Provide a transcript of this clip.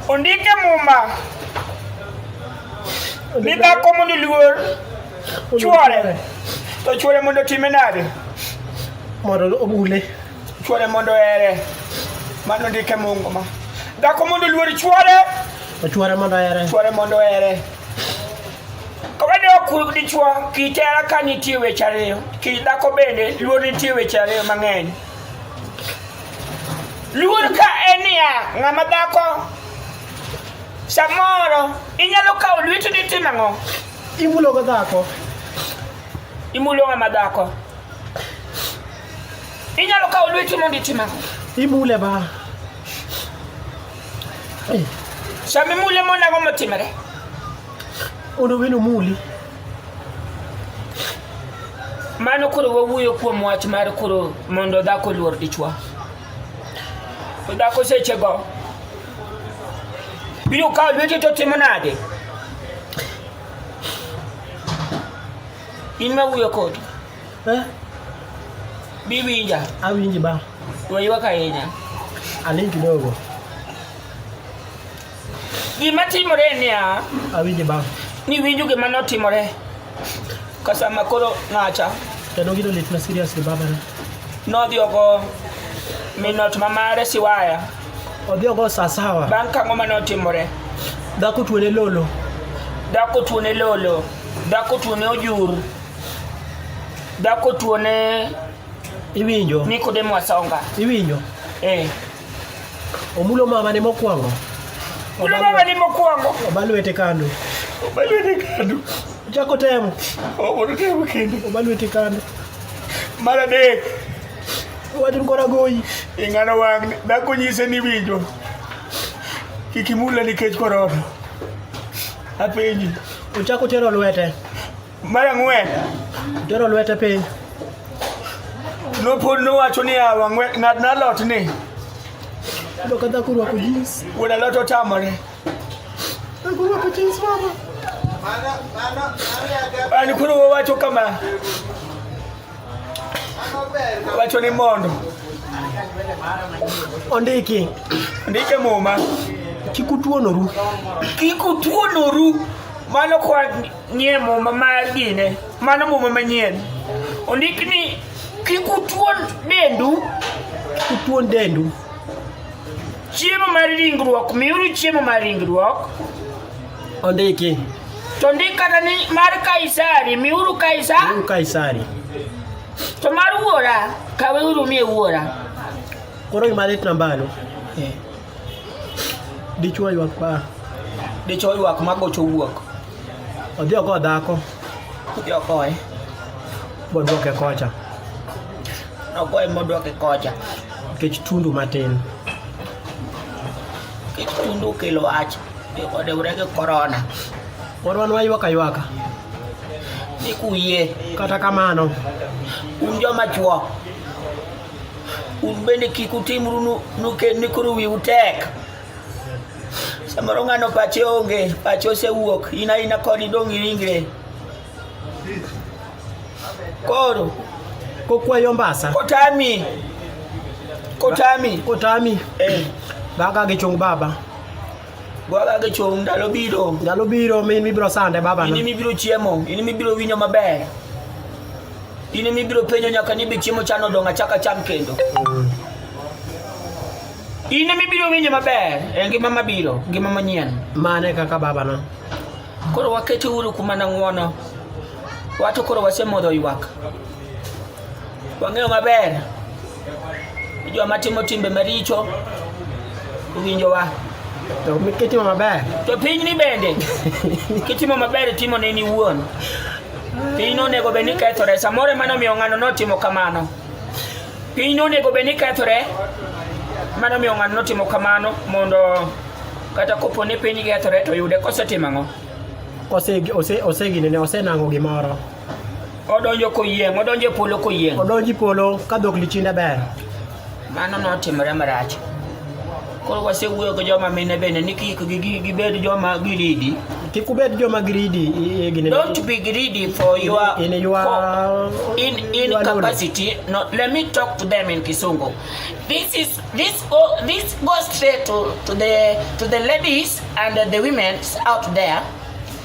Ondike Muma ni dhako mondo oluor chwore to chwore mondo time nade mondo obule chwore mondo ohere mano ndike mungu ma dhako mondo oluor chwore ochwore mondo ohere chwore mondo ohere kawade ok dichwo kit hera ka nitie weche ariyo kit dhako bende luor nitie weche ariyo mang'eny luor ka en niya ng'ama dhako samoro inyalo kawo lweti ditim ang'o imulogo dhako imulo ng'ama dhako Inyalo kawo lweti mondo itima. Imule ba. Sama imule mona go motimore. Ono wino muli. Mano koro wawuoyo kuom wach mar koro mondo dhako luor dichwo. Dhako sechego biro kawo lweti to timo nade? In ma wuoyo kodi. Eh, Biwinja, awinji ba. waywak ahinya. Aling kidogo. Gima timore en niya, Awinji ba. niwinjo gima notimore ka sama koro ng'acha Kendo gino lit na seriously baba na. nodhi ogo minot ma mare siwaya Odhi ogo saa sawa. bang' kang'o ma notimore. Dhako tuone lolo. Dhako tuone lolo, dhako tuone ojur, Dhako tuo ne iwinjo Nikodemo Asonga. Iwinjo? Eh. Omulo mama ne mokwongo. Omulo mama ne mokwongo. Obalwete kando. Obalwete kando. Chako temo. Obodo temo kendo. Obalwete kando. Mar adek. Watin kora goyi. Ing'ano wang' dhako nyise ni winjo. Kik imule nikech korona. Apenji. Ochako tero lwete. Mar ang'wen, Tero lwete piny. nopod nowacho niya, "Wang'we- ng'at na lot ni Yudo ka dhako orwako jeans. wuod alot otamore. Dhako orwako jeans mama. An koro wawacho kama, wacho ni mondo Ondiki. ndike muma Kik utuonoru. kik utuonoru mano kwa Nie muma mar gine, mano muma manyien. Ondik ni kik utuon dendu, kik utuon dendu. Chiemo mar ringruok, miuru chiemo mar ringruok. Ondiki. To ndik kata ni mar Kaisari, miuru Kaisari. Miuru Kaisari. To mar wuora, kaweuru mie wuora. Koro imalit nambano. Eh. Dichwo ywak pa. Dichwo ywak ma gocho wuok. Odhi oko dhako. Odhi oko e. Bodwoke kocha. Nogoye modwoke kocha. Nikech tundu matin. Nikech tundu okelo wach. Odewre gi korona. Pod wan waywaka ywaka. Ni kuyie. Kata kamano. Un joma chwo. un bende kik utimru ni koro wiu tek samoro ng'ano pache onge pache osewuok in aina koni dong' iringre koro kokwayo mbasa kotami kotami kotami eh. baka gichung baba Bwaga gi chung' ndalo biro. Ndalo biro min mibiro sande baba. In mibiro chiemo, in mibiro winyo maber. In mibiro penyo nyaka ni be chiemo chano odong' achaka cham kendo. In mibiro winyo maber e ngima mabiro, ngima manyien. Mane kaka baba na. Koro wakete uru kuma na ng'wono. Wato koro wasemodho ywak. Wang'eyo maber Joma timo timbe maricho owinjowa. To kitimo maber. To pinyni bende kitimo maber timo ne ni wuon. Piny nonego bed ni kethore. Samoro emane omiyo ng'ano notimo kamano. Piny nonego bed ni kethore. Mano omiyo ng'ano notimo kamano mondo kata kopo ni piny kethore to yude kosetimo ang'o? Osegine ne osenang'o gimoro. odonjo koyieng' odonjo e polo koyieng' odonjo e polo ka dhok lichinda ber mano notimore marach koro wasewuoyo gi joma mine bende ni kik gibed joma giridi kik ubed joma giridi don't be greedy for your in your for, in in your capacity knowledge. no let me talk to them in kisungu this is this go this goes straight to to the to the ladies and the women out there